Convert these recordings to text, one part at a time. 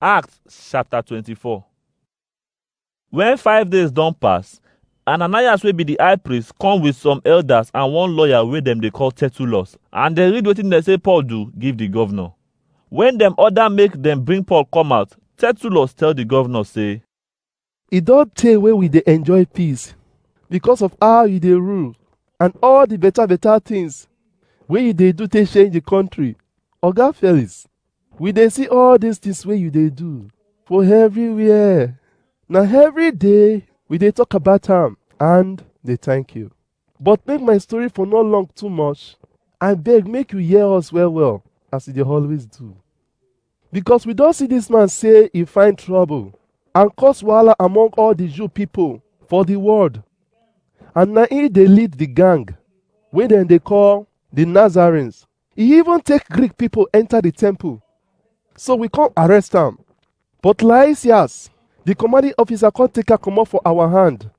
Acts chapter 24 When five days don pass, Ananias wey be the high priest come with some elders and one lawyer wey dem dey call Tertullus, and dem read wetin dem say Paul do give the governor. When dem order make dem bring Paul come out, Tertullus tell the governor say, E don tey wey we dey enjoy peace because of how you dey rule and all the better better things wey you dey do take change the country. Oga Felix, we dey see all these things wey you dey do for everywhere. Na every day we dey talk about am and dey thank you. But make my story for no long too much, I beg make you hear us well well as you dey always do. Because we don see this man say he find trouble and cause wahala among all the Jew people for the world. And na he dey lead the gang wey dem dey call the Nazarenes. He even take Greek people enter the temple. So we come arrest am. But Lysias, the commanding officer, come take her comot for our hand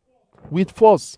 with force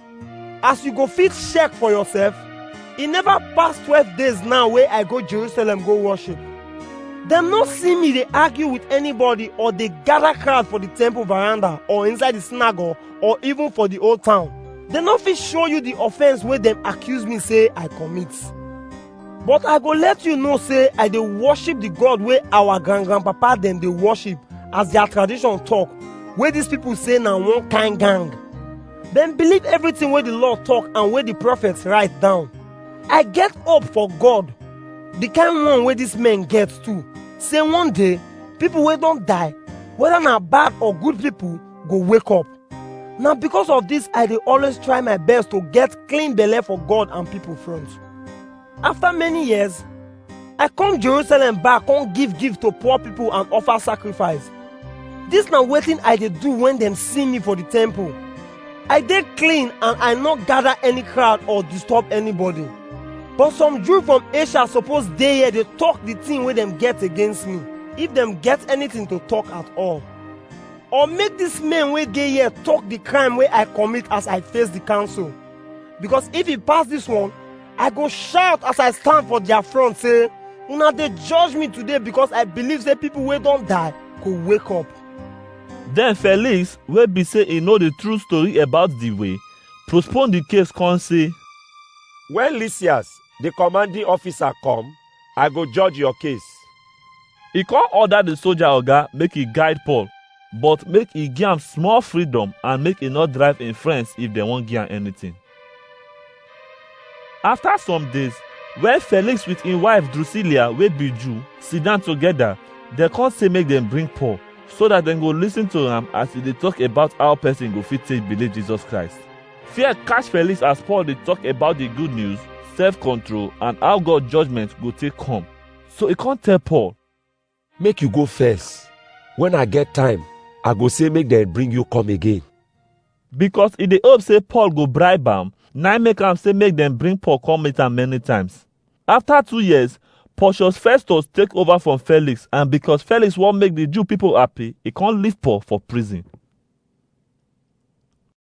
as you go fit check for yourself e never pass twelve days now wey i go jerusalem go worship dem no see me dey argue with anybody or dey gather crowd for the temple veranda or inside the synagogue or even for the old town dem no fit show you the offence wey dem accuse me say i commit but i go let you know say i dey worship the god wey our grand grandpapa dem dey worship as their tradition talk wey these people say na one kind gang dem believe everything wey the law talk and wey the prophets write down i get hope for god the kind one wey dis men get too say one day people wey don die whether na bad or good people go wake up na because of this i dey always try my best to get clean belle for god and people front After many years, I come Jerusalem back come give gift to poor people and offer sacrifice. This na wetin I dey do when dem see me for the temple. I dey clean and I no gather any crowd or disturb anybody. But some Jew from Asia suppose dey here dey talk the thing wey dem get against me, if dem get anything to talk at all. Or make these men wey dey here talk the crime wey I commit as I face the council. Because if e pass this one, I go shout as I stand for their front say, Una dey judge me today because I believe say people wey don die go wake up. Then Felix, wey be say e know the true story about the way, postpone the case come say, When Lysias, the commanding officer, come, I go judge your case. He come order the soldier oga make he guide Paul, but make he give am small freedom and make he no drive him friends if dem wan give am anything. After some days, when Felix with him wife Drusilla wey be Jew sit down together, dem come say make dem bring Paul so that dem go listen to am as he dey talk about how person go fit take believe Jesus Christ. Fear catch Felix as Paul dey talk about the good news, self-control, and how God judgment go take come. So he come tell Paul, make you go first when i get time i go say make dem bring you come again because he dey hope say Paul go bribe am, na im make am say make dem bring Paul come meet am many times. After two years, Porcius Festus take over from Felix, and because Felix wan make the Jew people happy, he come leave Paul for prison.